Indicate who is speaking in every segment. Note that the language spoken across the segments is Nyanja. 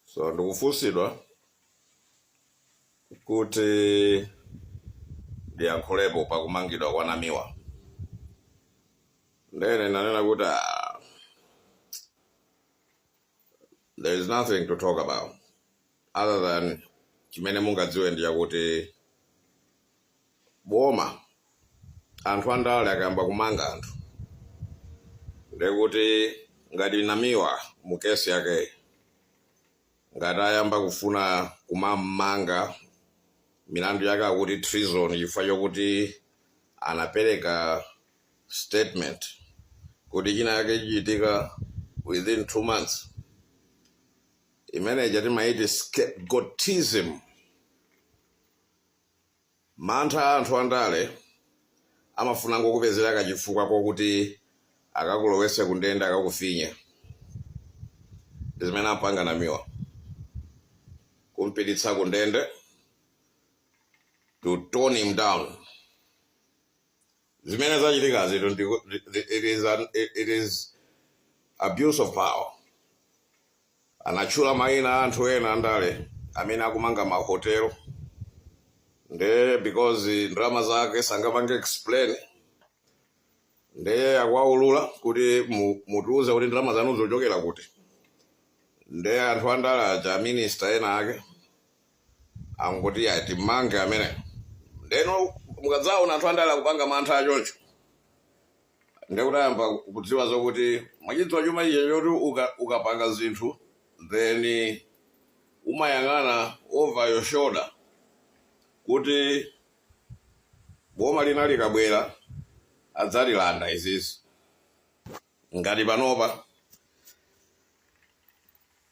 Speaker 1: so ndikufunsidwa kuti ndiyankhulepo pakumangidwa kwa namiwa ndene inanena kuti ah, there is nothing to talk about other than chimene mungadziwe ndi chakuti boma anthu andale akayamba kumanga anthu ndekuti ngati namiwa mu kesi yakeyi ngati ayamba kufuna kumammanga milandu yake akuti treason chifukwa chokuti anapereka statement kuti china yake chichitika within two months imene ija timaiti scapegoatism mantha a anthu andale amafunango kupezera kachifukwa kokuti akakulowetse kundende akakufinye zimene ampanga namiwa kumpititsa kundende to tone him down zimene zachitikazitu ndiku- ndi- ndi- it is an- it- it is abuse of power anatchula mayina a anthu ena andale amene akumanga mahotelo nde because ndalama zake sangapange explain nde akuwaulula kuti mu- mutiuze kuti ndalama zanu zochokera kuti nde anthu andale aja minister ena ake angoti ayi timmange ameneyu ndeno mukadzaona anthu andale akupanga mantha achoncho ndekuti ayamba kudziwa zokuti mwachidziwa chuma chija choti uka- ukapanga zinthu then umayang'ana over your shoulder kuti boma lina likabwera adzatilanda izizi ngati panopa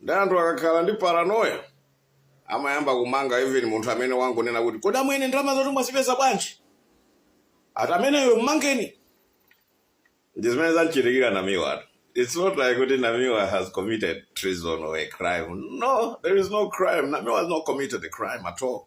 Speaker 1: Nde anthu akakhala ndi paranoia amayamba kumanga even munthu amene wangonena kuti kodi amwene ndalamazotu mwazipeza bwanji? Ati ameneyo mmangeni. Ndi zimene zamchitikira Namiwatu. It's not like kuti Namiwa has committed treason or a crime. No, there is no crime. Namiwa has not committed a crime at all.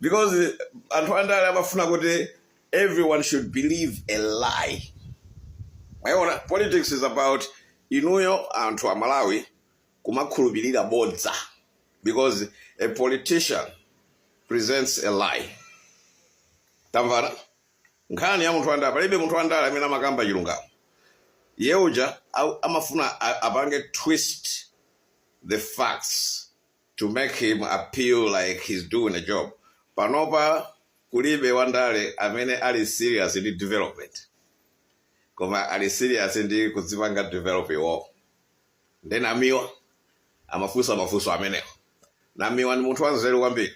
Speaker 1: because anthu andale amafuna kuti everyone should believe a lie mwayiona politics is about inuyo anthu a Malawi kumakhulupirira bodza because a politician presents a lie tamvana nkhani ya munthu wandale palibe munthu wandale amene amakamba chilungamo iye uja amafuna a- apange twist the facts to make him appear like he's doing a job. Panopa kulibe wandale amene ali serious ndi development. Koma ali serious ndi kudzipanga develop iwowo. Nde Namiwa amafunsa mafunso amenewo. Namiwa ndi munthu wanzeru kwambiri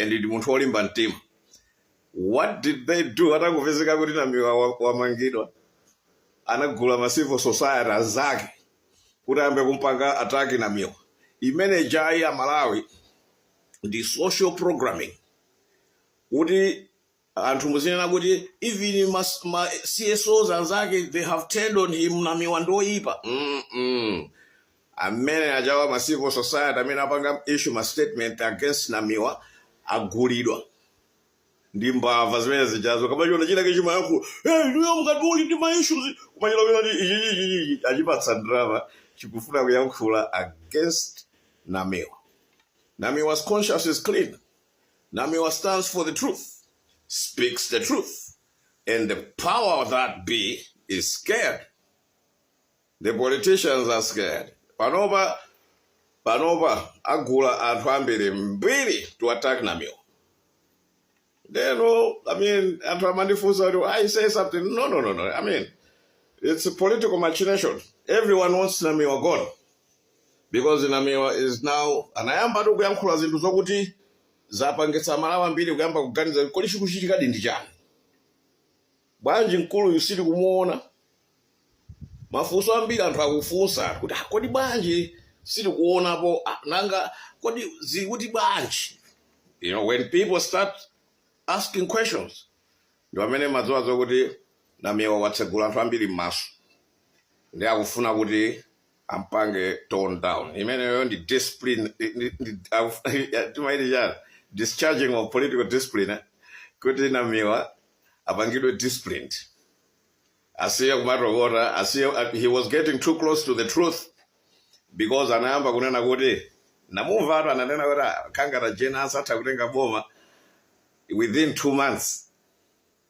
Speaker 1: and ndi munthu wolimba mtima. What did they do atangopezeka kuti namiwa wa- wamangidwa? Anagula ma civil society anzake kuti ayambe kumpanga attack namiwa imene ijayi a malawi ndi social programming kuti anthu muzinena kuti even mas, ma csos anzake they have turned on him namiwa ndi oyipa mm -mm. amene ajawa ma civil society amene apanga issue ma statement against namiwa agulidwa ndi mbava zimene zijazo kumachiona china chikumayankhula eh ndiye mukuti tili ndi ma issues kuwamenyera wina ndi ichi ichi ichi achipatsa drama chikufuna kuyankhula against Namiwa Namiwa's conscience is clean Namiwa stands for the truth speaks the truth and the power that be is scared The politicians are scared. Panopa panopa agula anthu ambiri mbiri to attack Namiwa. You know, I mean, anthu amandifunsa kuti I say something. No, no, no, no. I mean, it's a political machination. Everyone wants Namiwa gone because Namiwa is now anayamba tu kuyankhula zinthu zokuti zapangitsa aMalawi ambiri kuyamba kuganiza kuti kodi chikuchitikadi ndi chani. bwanji mkuluyu sitikumuona mafunso ambiri anthu akufunsa kuti "Ah, kodi bwanji sitikuonapo Ah, nanga kodi zikuti bwanji you know when people start asking questions ndi pamene umadziwa zokuti namiwa watsegula anthu ambiri m'maso nde akufuna kuti ampange tone down imeneyo ndi discipline ndi- ndi- akuf- timati chani discharging of political discipline eh, kuti namiwa apangidwe disciplined asiye kumatokota asiye uh, he was getting too close to the truth because anayamba kunena kuti ndamumva tu ananena kuti "Ah, Kangata uja atha kutenga boma within two months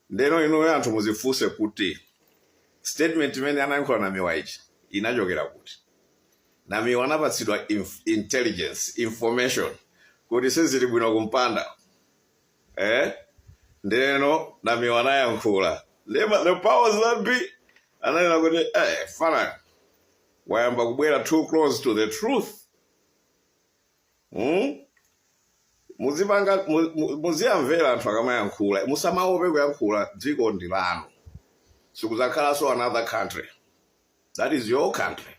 Speaker 1: ndeno inuyo anthu muzifunse kuti statement imene anayankhula namiwa ija inachokera kuti namiwa anapatsidwa inf intelligence information kuti sizili bwino kumpanda eh? ndeno namiwa anayankhula ndiye ma- the powers that be ananena kuti eh, fanayi wayamba kubwera too close to the truth hmm? muzipanga mu- mu- muziyamvera anthu akamayankhula musamaope kuyankhula dziko ndi lanu sikuzakhalanso another country that is your country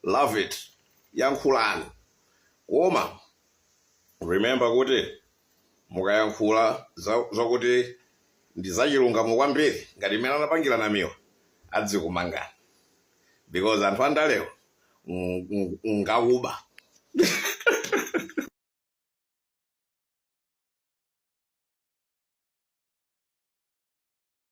Speaker 1: love it yankhulani koma Remember kuti mukayankhula za- zakuti ndi zachilungamo kwambiri ngati mmene anapangira namiwa adzakumangani because anthu andalewa ng- ng- ngakuba